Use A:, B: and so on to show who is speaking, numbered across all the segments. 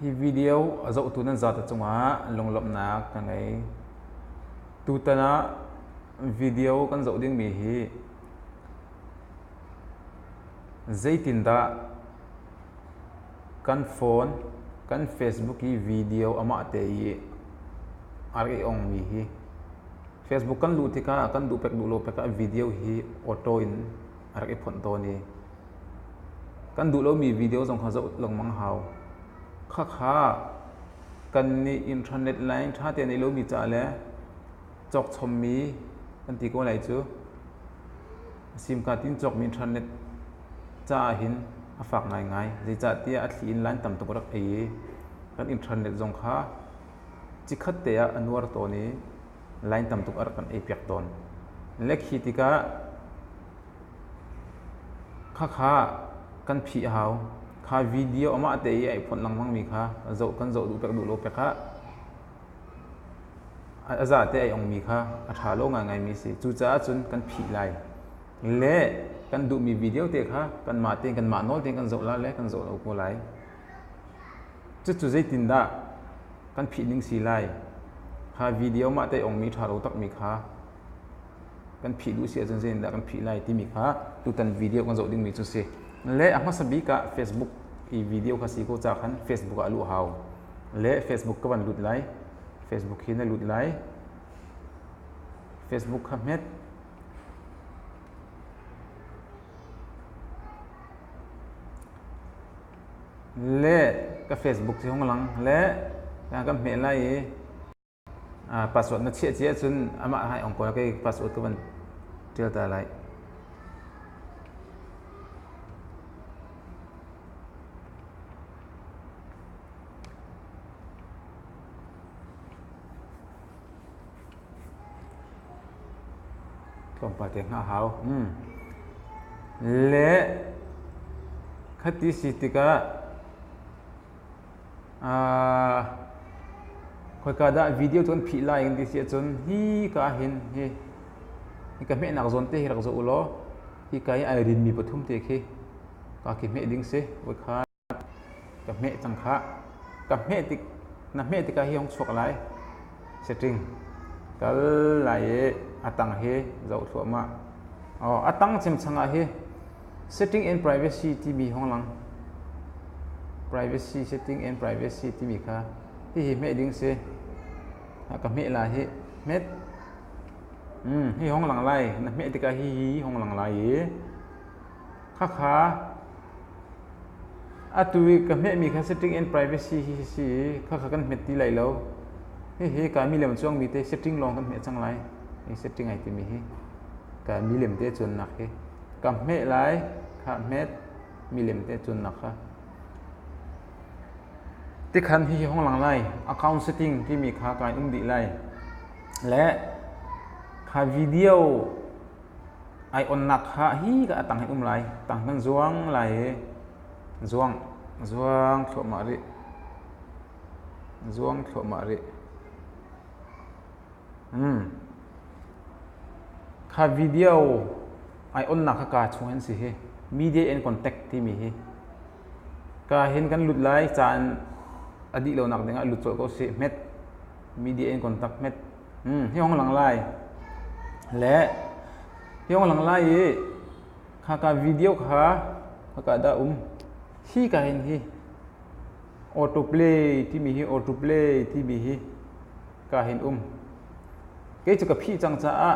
A: Hi video a zohtu nan zate cungah lunglawmhnak ka ngei. Tutan ah video kan zoh dingmi hi zeitindah kan phone, kan Facebook i video amahte i a rak i ongmi hi Facebook kan luh tikah kan duh pek duh lo pek ah video hi auto in a rak i phonh tawn i kan duh lomi video zong kha zoh lengmang hau khakha kan nih internet line ṭha tein i lomi ca le cawkchommi kan ti ko lai cu simka tin cawkmi internet ca ah hin a fak ngaingai zeicahtiah a thli in line tam tuk rak ei i kan internet zong kha cikhat te ah a nuar tawn i line tam tuk a rak kan ei piak tawn. Le khi tikah khakha kan phih hau. Kha video amah te i ai phone lengmangmi kha zoh kan zoh duh piak duh lo piak ah a za te ai ongmi kha a ṭha lo ngaingaimi si. Cucaah cun kan phih lai. Le kan duhmi video te kha kanmah tein kanmah nawl tein kan zoh la le kan zoh lo ko lai. Cucu zeitindah kan phihning si lai? Kha video mah tei ongmi ṭha lo takmi kha kan phih duh si ahcun zeitindah kan phih lai timi kha tutan video kan zoh dingmi cu si. Le a hmasa bik ah Facebook i video kha si ko ca khan Facebook ah luh hau. Le Facebook ka van lut lai. Facebook hi na lut lai. Facebook kha hmet. le ka facebook cu hung lang le kan hmeh lai i password na chiah cia cun amah hai ong kawl kei password ka van ṭial ta lai tlawmpal te hngah hau le khati si tikah khoika dah video cu kan phih lai kan ti si ahcun hi ka hin hi hika hmehnak zawn te hi rak zoh u law hika i ai rinmi pathum te khi ka khi hmeh ding si. ka hmeh cang khah. Ka hmeh tik, na hmeh tikah hi hong chuak lai. Setting. Kal lai i a tang hi zoh thluahmah. Oh, a tang cemcang ah hi setting and privacy timi hong lang. Privacy, setting and privacy timi kha hihi hmeh ding si. Ka hmeh la hi hmet. Hmm, hi hong lang lai. Na hmeh tikah hi hi hong lang lai i Khakha atu i ka hmehmi kha setting and privacy hi a si i khakha kan hmet ti lai lo. Hihi ka mi lem cuangmi te setting lawng kan hmeh cang lai. Hi setting ai timi hi ka mi lem te cuannak hi ka hmeh lai kha hmet mi lem te cuannak kha. Tikhan hihi hong lang lai account setting timi kha kai um dih lai. Le kha video Aiawnnak ha hi ka a tang hin um lai. Tang kan zuang lai i zuang, zuang thluahmah rih. Zuang thluahmah rih. Hmm. Kha video aiawnnak ha ka chung hin si hi. Media in contact timi hi. Ka hin kan lut lai caan a dih lo nak dingah lut colh ko si. Hmet. media in contact met hmm hiong lang lai le hiong lang lai i kha ka video kha kha da um hi ka hin hi auto play ti mi hi auto play ti mi hi ka hin um ke chu ka phi chang cha a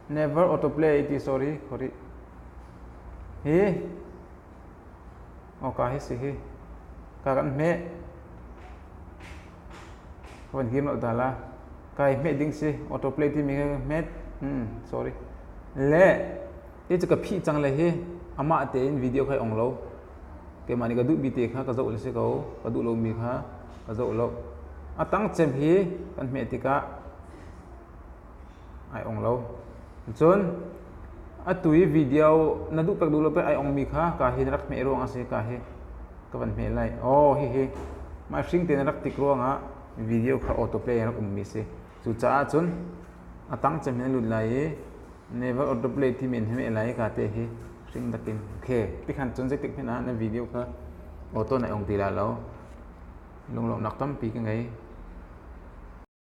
A: never auto play ti sorry sorry hi awka hi si hi ka kan hmeh ka van him lo dal a kai hmeh ding si autoplay timi ka hmet hmm sorry le i cu ka phih cang le hi amah tein video kai ong lo keimah nih ka duh bi te kha ka zoh le si ko ka duh lo mi kha ka zoh lo a tang cem hi kan hmeh tikah ai ong lo. Cun atu i video na duh pek duh lo pek ai ongmi kha ka hi na rak hmeh ruang a si ka hi ka van hmeh lai. Aw hihi mah hring tein na rak tik ruangah video kha autoplay in rak ummi si. Cucaah cun a tang cem hin a lut lai i never autoplay ti men hi meh lai ka te hi hring takin. Okay, tikhan cun zeitik hmanh ah na video kha auto nai ong ti la lo. Lunglawmhnak tampi ka ngei.